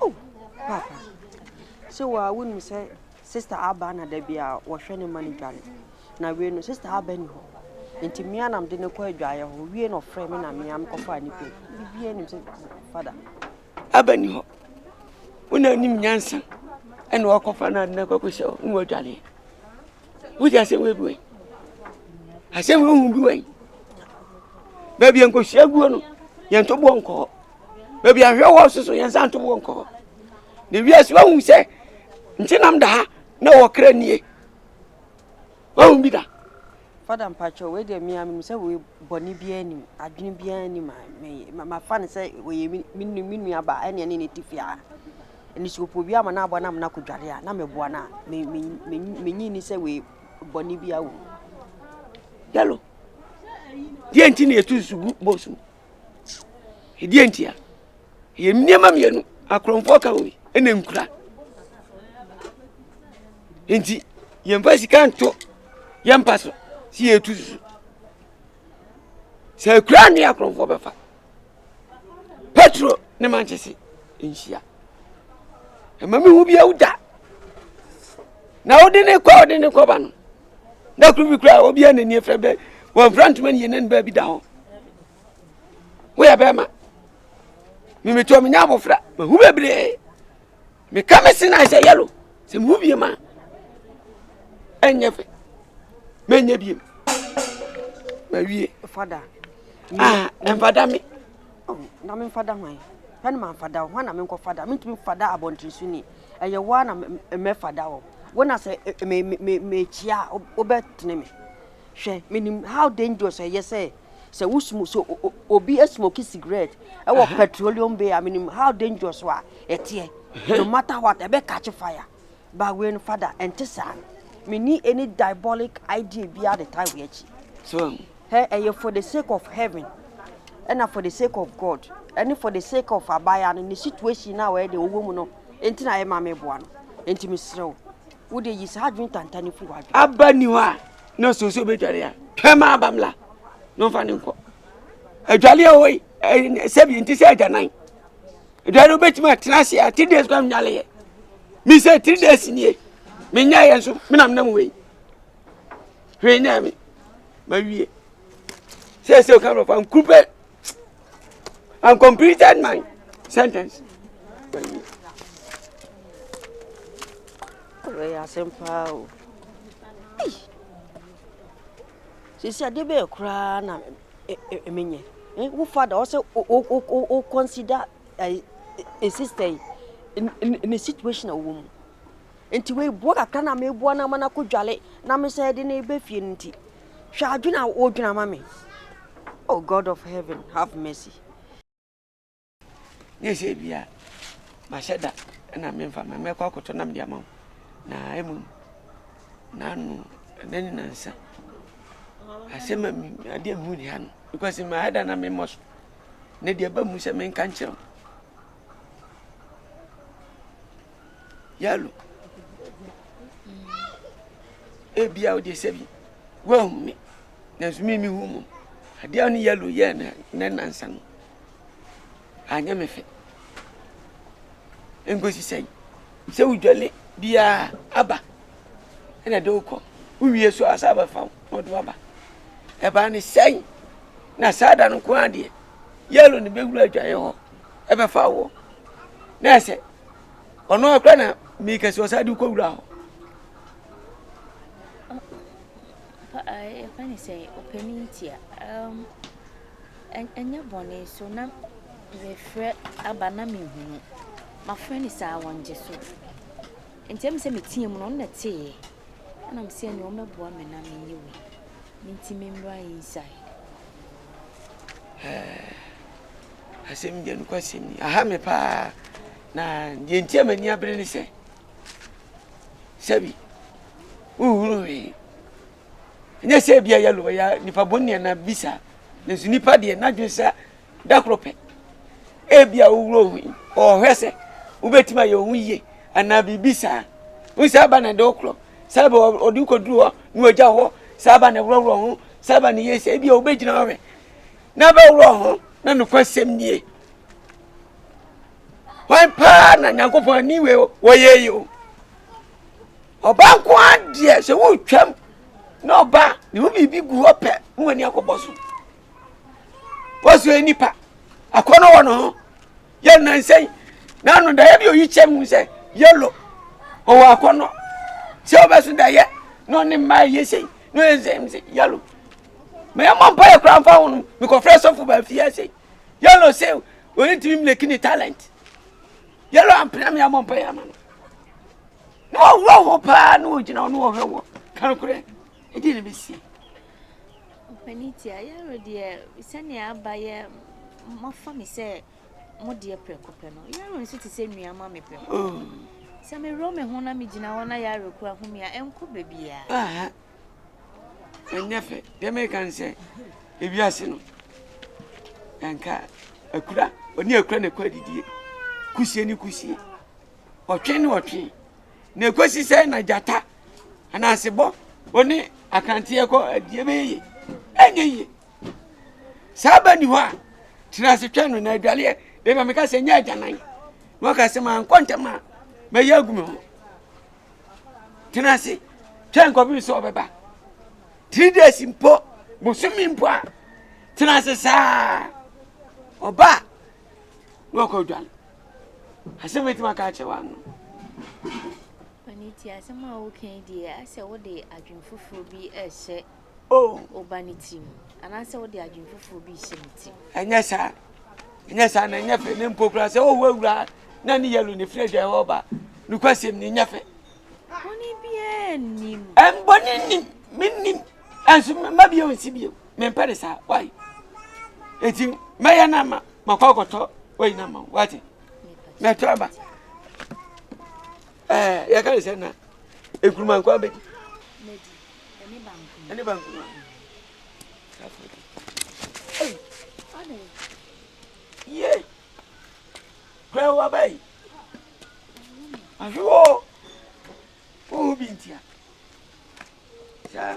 Oh papa sɛ waa wonim sɛ sister aba na da bi a wɔhwɛ ne ma no dware na wei no sister aba ni hɔ nti mmea nam de ne kɔ adwaeɛ hɔ wie na ɔfrɛ me na mmea mekɔfaa ne pɛ bibia nim sɛ fada aba ni hɔ wona anim nyansa ɛna ɔkɔfa no ade no akɔkɔ sɛ ne wadwareɛ wogye asɛm wei bi wai asɛm wei hu bi wai baabi a nkɔhyia guo no yɛntɔboɔ nkɔɔ baabi a nhwɛ wɔ soso yɛn nsa nto wɔ nkɔ hɔ na wiase wahu sɛ nkyenam da ha na wɔkra nie wahu bi da fada mpakyɛ wei deɛ mmea menim sɛ wei bɔne biara anim adwene biara anim a mafa no sɛ wɔyɛ me nua baa ɛneɛ ne ne ti fie a ɛne sɛ ɔpɔ bi ama no abɔ no ama no akɔdware a na meboa no a menyi ni sɛ wei bɔne biara wɔ mu yɛlo deɛ nti ne ɛtu nsu gu bɔsu Ɛdeɛ nti a, ɛyɛ nneɛma mmienu, akorɔmfoɔ ka wei ɛna nkura. Nti yɛmfa sika nto yɛmpa so si yɛtu susu. Sɛ akura ne akorɔmfoɔ bɛfa. Petro ne mankyese nhyia. Ɛma mehu bi awu da. Na wode ne kɔ wode ne kɔba no. da koro bi koraa obiara n'ani afira bɛ wɔmfira ntoma ne yɛnani baabi da hɔ woyɛ bɛrima memetuo menya abofra mahu bebree meka me se na sɛ yɛlo sɛ mehu bie ma ɛnyɛ fɛ mɛnyɛ biem mawie ɛmfada ah, me Ao, na memfa da hwan? Hwɛ na mamfa da wo, hwan na menkɔfa da? Mentumi mfa da abɔnten so ni, ɛyɛ wo ara na mɛfa da wo. Wo na sɛ mekyia a, wobɛtene me. Hwɛ, menim how dangerous ɛyɛ sɛ sɛ wo smoke sɛ obi smoke cigarette ɛwɔ petroleum bay a menim how dangerous a ɛteɛ. No matter what, ɛbɛ catch fire. But wei no fada, ɛnte saa. Menni any diabolic idea biara de tie wei akyi. So, Hɛ ɛyɛ for the sake of heaven ɛna for the sake of God ɛne for the sake of abaayaa no ne situation no a wɔyɛ deɛ ɔwɔ mu no nti na ɛma meboa no nti mesrɛ wo wo deɛ yi saa adwene tanta no fi wɔ adwene aba ni hɔ a na sɛ sɛ obɛdware a twɛm aba mmla na ɔmfa ne nkɔ adwale a ɔwɔ yi sɛbi nti sɛ agyanan adwale wobɛtumi atena ase a three days kora mnyaleɛ mesɛ three days nie menyɛeɛ nso menam nam wei hwee nyaa me mawie sɛ sɛ ɔka nɔfa nkuru pɛ and completed my sentence mawie wei asɛm paa o sisi ade bɛyɛ koraa na menyɛ wo fada ɔsɛ wo consider a sister yi ne situation a wɔwɔ mu Nti wei boɔ kakra na meboa no ama no akɔ dwale na me sɛ de no ba fie no nti hwɛ adwene a wodwene ama me oh god of heaven have mercy ne sɛ bia mahyɛ da na memfa ma mɛkɔ akɔtɔ nam de ama wo na ɛmu naano ɛnɛ ne nansa asɛm a adeɛ mehu ne ha no because mahyɛ da na memmɔ so na deɛ ɛba mu sɛ menka nkyerɛ wo yalo ebia wode sɛ bi woahu me nanso me mehu mu adeɛ a ne yalo yɛɛ me nɛ nansa no anyɛ me fɛ nkosi sɛn sɛ wodwale biaa aba ɛna de wokɔ wowie so asa abɛfa wo na ɔde waba ɛbaa ne sɛn na saa da no ko adeɛ yalo ne bɛwura adwaeɛ hɔ ɛbɛfa woɔ na ɛsɛ ɔno akora na meka si ɔsa de kɔ wura hɔ ɛfɛ ne sɛ ɔpɛni ntia ɛnyɛ bɔne so na mefrɛ aba na mehunu mafrɛ ne saa wɔngye so ntɛm sɛ meteɛ mu no ɔno na teeɛ Ɛna me sɛ nea ɔmɛ boa me na me nyɛ wei me nti me mmra inside. Ɛɛ asɛm deɛ nokɔ asɛm ni aha me paa na deɛ nti a m'ani abere ne sɛ sɛbi wohunu hwee ɛnyɛ sɛ bia yɛlo ya nipa bɔne na bisa nanso nipa deɛ n'adwene sɛ da koro pɛ. Ebia wowura ohu yi, ɔhwɛ sɛ wobɛtumi ayɛ ohu yie anaa biribi saa. Wo saa ba na ɛde wo korɔ, saa ba ɔde wo kɔduru hɔ na wagya hɔ, saa ba na ɛworɔworɔ ho, saa ba na ɛyɛ sɛ ebia wobɛgyina ɔhwɛ na bɛworɔ ho na nokwasɛm nie. Hwan paa na Nyankopɔn ani wei wɔyɛ yi o. Ɔbaa nko ara deɛ sɛ wotwam na ɔbaa ne ho biribi gu hɔ pɛ na w'ani akɔbɔ so. wɔsɔ nnipa akɔnɔ wɔ no ho yɛ nansɛn na ano da yɛde oyi kyɛ mu sɛ yɛlo ɔwɔ akɔnɔ sɛ ɔbɛso da yɛ na ɔne mmaa yɛ sɛn na ɔyɛ nsɛm sɛ yɛlo ma yɛmmɔ mpa yɛ kora mfa ho no mekɔfrɛ sɔfo baafi ase yɛlo sɛ oyi tumi mleki ne talent yɛlo ampena me ammɔ mpa yɛ ama no na ɔworɔ ho paa na ɔgyina hɔ na ɔhwɛ wɔ kankorɛ Ɛdeɛn na ɛbɛsi? Mpanin tia, Yaro deɛ sɛdeɛ aba yɛ moafa me sɛ mo deɛ prɛko pɛ no, Yaro nso te sɛ nua ma me prɛko. Oh. Sɛ mewerɛ me ho na megyina hɔ na Yaro kura ho me a, ɛnkɔ baabiara. Ɛnyɛ fɛ, deɛ meka ne sɛ ewiase no, ɛnka akura, ɔne akura na ɛkɔ adidie, kusie ne kusie, ɔtwe ne ɔtwe, na ɛkɔsi sɛ na gyata anaasebɔ ɔne akanteɛ kɔ adie bɛyɛ yie ɛnyɛ yie saa ba ni hɔ a tena ase twɛn no na adwaleɛ bɛma meka sɛ nyɛ agyanan na waka sɛ mankɔ ntɛm a mɛyɛ agu me ho tena ase twɛn kɔpem sɛ ɔbɛba three days mpo bosome mpo a tena ase saa ɔba a na ɔkɔ dwale asɛm ɛtumi aka akyerɛ wa no Pani ti asɛm a woka yi deɛ asɛ wode adwene foforɔ bi ɛhyɛ oh. woba ne tirim anaasɛ wode adwene foforɔ bi hyɛ ne tirim ɛnyɛ saa ɛnyɛ saa na ɛnyɛ fɛ ne mpo koraa sɛ wohu awura na ne yɛlo ne firi adwa ɛwɔ ba nokwasɛm ne nyɛ fɛ bɔne biaa nnim ɛmbɔne nnim mennim ɛnso mma bio nsi bio mempɛ ne saa wai eti mɛyɛ no ama makɔ akɔtɔ wei no ama wate mɛtɔ aba ɛɛ yɛka ne sɛ na ekuruma nkɔ abɛdi ɛne bankuruma ye kura wa bɛyi ahwe wɔ wo bi ntia saa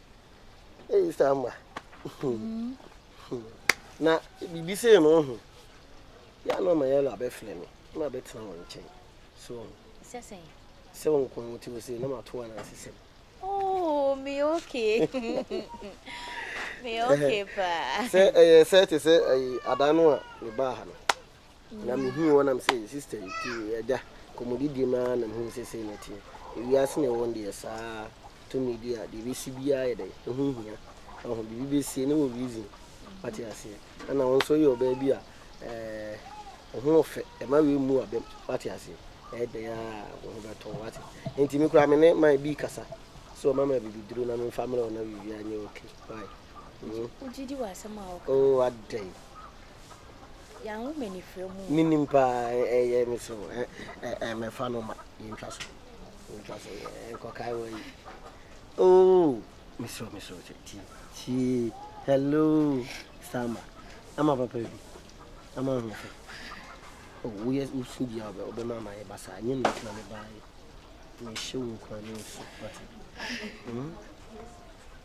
Ei Sama. Mm. Na bibi sei no ho. Ya no ma yɛla bɛfrɛ me. Na bɛtena wɔn nkyɛn. So. Sɛ sɛ. Sɛ wɔn kɔn mu ti wɔ sei na matoa na asesɛm. Oh, me okay. me okay pa. Sɛ ɛyɛ sɛ te sɛ ɛyi ada no a me baa ha no. Na mihuu wɔn na mise, Sista yi, tie, agya, nkɔmmɔdidie mu ara na mehunu sɛ sei na ɛteɛ. Ewiase na ɛwɔ no deɛ, saa tumidi a deɛ ɛbɛsi biara yɛ dɛn, ɛho nhia. Wahu, biribi bɛsie na ɛwɔ reason. Wate aseɛ? Ɛna wo nso woyɛ ɔbaa bi a, ɛɛ, wo ho ɔfɛ, ɛma wei mmu abam. Wate aseɛ? Ɛyɛ dɛn ara a, wo ho bɛtɔ wo. Wate? Enti me koraa me ne Mae Bee kasa sɛ ɔmma me abibiduro na memfa mmrɛ wo na biribiara nyɛ okay. Why? Hmm? Wogye di w'asɛm a woka? Oh, adɛn? Menim paa ɛyɛ me so mɛfa no ma yɛntwa so yɛntwa so nkɔkae wɔ yi oh mesrɛ mesrɛ sɛ tie tie hello sama ama papa bi ama ho fɛ oh woyɛ wosu bia wobɛma ama yɛ basa nyɛ me ntina me baayɛ mehyɛ wo nkwa ne nsu wate hmm?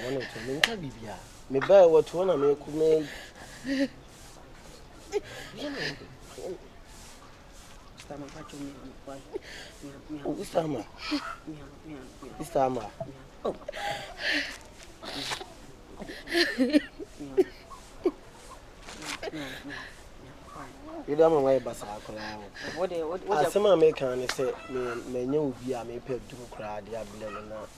Wɔn na tuo menka bibia. Me ba wɔ tuo na me kuma yi. Sama pa tuo me kwa. Obi sama. Obi sama. Oh. yɛde ama wayɛ basaa koraa asɛm a meka ne sɛ manyɛ obi a mepɛ duru koraa de ablɛ no na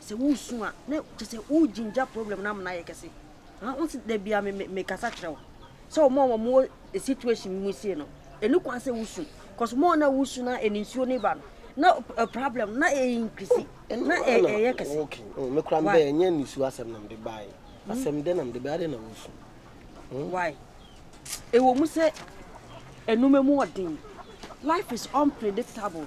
sɛ woresu a na kyerɛ sɛ wo ginger problem no ama no ayɛ kɛse. Aha wo se da bi a me me me kasa kyerɛ wo sɛ wɔn a wɔn wɔ e situation mu sie no ɛni kwan sɛ wosu cause wɔn na wosu na ɛni nsuo ne ba no na e problem na e increase na e ɛyɛ kɛse. Okay, oh, me kura mbɛ ɛnyɛ nisu asɛm na mde baa yi. Hmm? Asɛm dɛ na mde baa dɛ na wosu. Hmm? Why? Ɛwɔ mu sɛ ɛnuma mu ɔden. Life is unpredictable.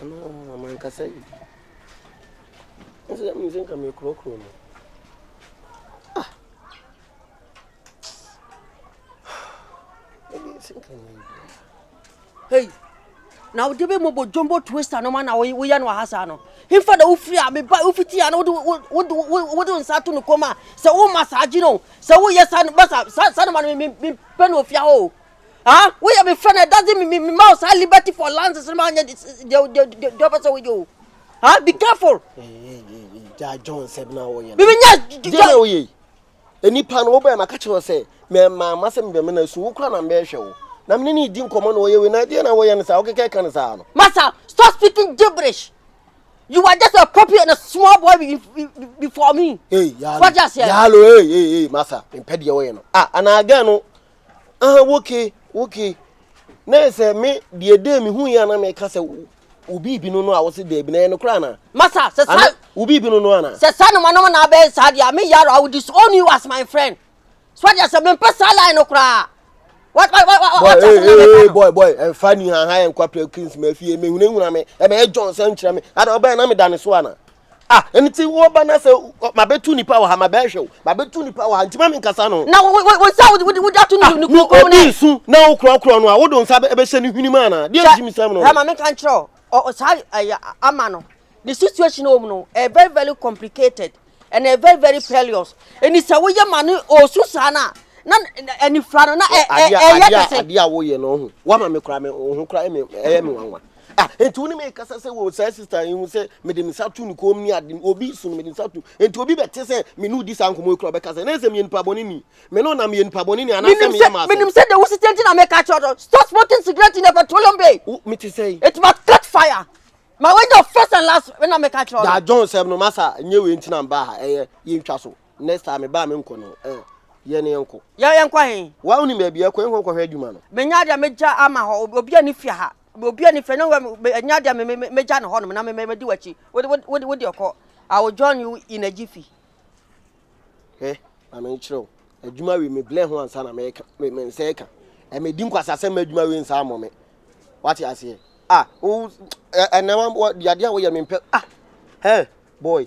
Ɔno ɔɔ mankasa yi. Nso na menim sɛ nka mekorɔkorɔ no. Ah! Ebi nso nka nyɛ yi biara. Hey! na wode bɛ mɔbɔ jombo twister no ma na woyɛ no aha saa no hemfa na wofiri a meba wofiti a na wode nsa ato no kɔm a sɛ woma saa gye no sɛ woyɛ sa no ma sa no ma no mempɛ no ofia hɔ o ah woyɛ me friend it doesn't mean me ma wo saa liberty for lances no ma nyɛ deɛ wopɛ sɛ woyɛ o ah be careful gya john sɛm na woyɛ bibi nyɛ deɛ na woyɛ yi nipa no wobɛɛ maka kyerɛ sɛ mɛma ma sɛ mebɛ me na su wo kora na mbɛɛhwɛ wo na mene ne di nkɔmmɔ na wɔyɛ wei na deɛ na woyɛ no saa wokeka ɛka no saa no masa stop speaking gibberish You are just a puppy and a small boy before me. Hey, yalo. What just here? Yalo, hey, hey, hey, masa. Impedi ya wayano. Ah, ana agano. aha woke woke na sɛ me deɛ dee me hu yɛ na meka sɛ obi bi no no a wɔse daabi na ɛyɛ no koraa na masa sɛ sa obi bi no no ana sɛ sa no manom na abɛyɛ saa deɛ me yaro I will disown you as my friend so deɛ sɛ mempɛ saa line no koraa What, what, what, what, what, hey, hey, hey, boy, boy, and funny, and high and quappy, Christmas, if you may win, I may join some chairman. I don't buy an amidanisoana. Ah, ɛno nti woba na sɛ mabɛtu nipa wɔ ha mabɛhwɛ wo mabɛtu nipa wɔ ha nti ma menkasa no na wosa wode ato no ah, kuro kuro no nsu na wokorɔkorɔ no a wode nsa bɛhyɛ no hwini mu anaa deɛ nti mesɛm no ma menka nkyerɛ wo saa ama no the situation wɔ mu no ɛyɛ very very complicated and ɛyɛ very very perilous ɛni sɛ woyɛ ma no ɔsu saa no a na anifra no na ɛyɛ kɛse adeɛ a woyɛ no ho woama me kora me ho kora ɛyɛ me wanwa Ah, enti wo ne me kasa sɛ wɔ saa sista yi ho sɛ mede me nsa to ne kɔn mu ne ade obi so no mede nsa to enti obi bɛte sɛ me ne odi saa nkɔmɔ ekura ɔbɛka sɛ na ɛsɛ meyɛ nipa bɔne ni me no na meyɛ nipa bɔne ni anaasɛ menim sɛ meyɛ maa sɛ menim sɛ deɛ wosi tiɛ nti na meka kyerɛ ɔdɔ stop smoking cigarette in a petroleum bay wo mete sɛ yi it must catch fire ma wanya first and last na meka kyerɛ ɔdɔ da john sɛm no masa nyɛ wei nti na mbaa ha ɛyɛ yɛntwa so Next time me ba me nkɔ no eh yɛ ne yɛnkɔ. Yɛ yɛnkɔ ahe? Waa wonim baabi a ɛkɔ yɛnkɔ nkɔhwɛ adwuma no. Menya adeɛ a mɛgya ama hɔ obiara nni fie ha obiara nni fie na wura menya adeɛ a mɛgya no hɔnom na mɛdi w'akyi wode wode ɔkɔ I will join you in a jiffy. Hwɛ ma menkyerɛ wo adwuma wei meblɛ ho ansa na mɛka me nsa ɛka ɛmɛdi nkwasasɛm ma adwuma wei nsa amɔ me wate aseɛ ah wo ɛnɛ wa di adeɛ a woyɛ mempɛ ah hɛ boy